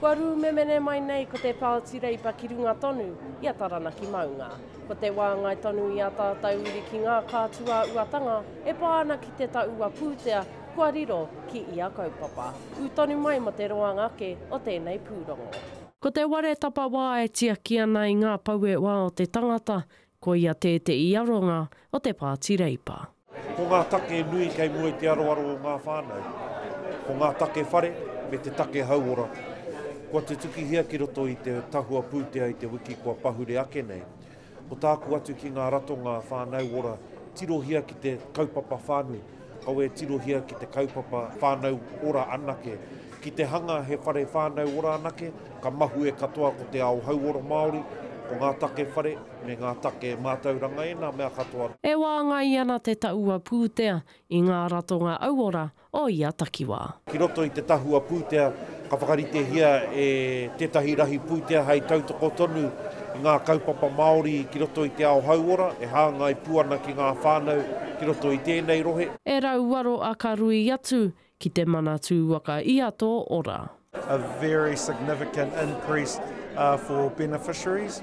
Kua rūmemene mai nei ko te Pāti Reipa ki runga tonu i a Taranaki maunga. Ko te wāngai tonu i ā tātau uri ki ngā kātua uatanga e pā ana ki te taua pūtea kua riro ki ia kaupapa. Ū tonu mai mō te roanga ake o tēnei pūrongo. Ko te ware tapawā e tiaki ana i ngā pouewa o te tangata Ko ia tē te i aronga o te Pāti Reipa. Ko ngā take nui kei mua i te aroaro o ngā whānau, ko ngā take whare me te take hauora kua tutukihia ki roto i te tahua pūtea i te wiki kua pahure ake nei. Ko tāku atu ki ngā ratonga whānau ora, tirohia ki te kaupapa whānui. Kaua e tirohia ki te kaupapa whānau ora anake. Ki te hanga he whare whānau ora anake, ka mahue katoa ko te ao hauora Māori, ko ngā take whare me ngā take mātauranga ēnā mea katoa. E wāngai ana te tahua pūtea i ngā ratonga auora o ia takiwā. Ki roto i te tahua pūtea, Ka whakaritehia e tētahi rahi pūtea hei tautoko tonu i ngā kaupapa Māori ki roto i te ao hauora, e hāngai pū ana ki ngā whānau ki roto i tēnei rohe. E rauaro a ka rui atu ki te Manatū Waka i a tō ora. a very significant increase for beneficiaries.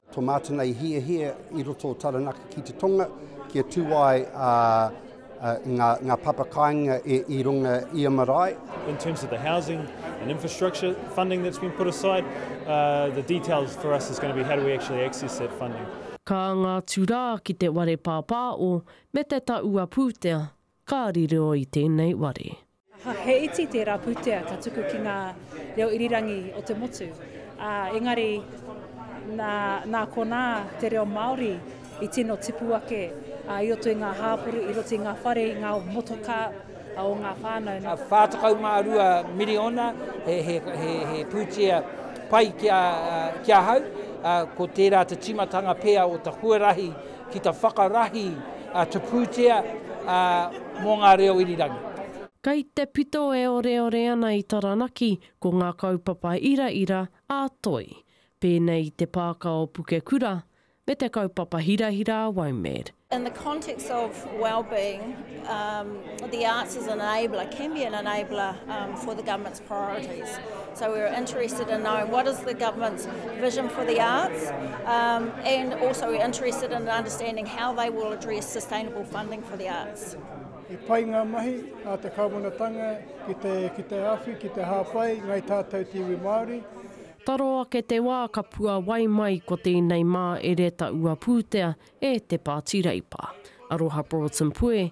To Mātanga i hiahia i roto o Taranaki ki te Tonga kia tū ai ngā, ngā papa kāinga e, i runga i a marae. In terms of the housing and infrastructure funding that's been put aside, uh, the details for us is going to be how do we actually access that funding. Ka anga atu rā ki te ware pāpāo me te taua pūtea, ka riro i tēnei ware. Aha, he iti tērā pūtea ka tuku ki ngā reo irirangi o te motu, ā, engari nā, nā konā te reo Māori i tino tipu ake ā, i roto i ngā hāpori, i roto i ngā whare, i ngā motokā o ngā whānau. Nā. 42 miriona, he, he, he, he pūtea pai ki a, ki ahau, ā, ko tērā te tīmatanga pea o te huarahi Ki te whakarahi te pūtea mō ngā reo irirangi. Kei te pito e oreore ana i Taranaki ko ngā kaupapa iraira ā Toi, pēnei i te Pāka o Pukekura me te kaupapa hirahira a Waumed. In the context of wellbeing, the arts as an enabler can be an enabler for the government's. priorities. So we were interested in knowing what is the government's vision for the arts, um, and also we're interested in understanding how they will address sustainable funding for the arts. I pai ngā mahi a te kāwanatanga ki te, ki te awhi, ki te hāpai, ngai tātou te iwi Māori. Taro ake te wā ka pua wai mai ko tēnei mā Ereta Ua Pūtea e Te Pāti Reipa. Aroha Broughton Pue,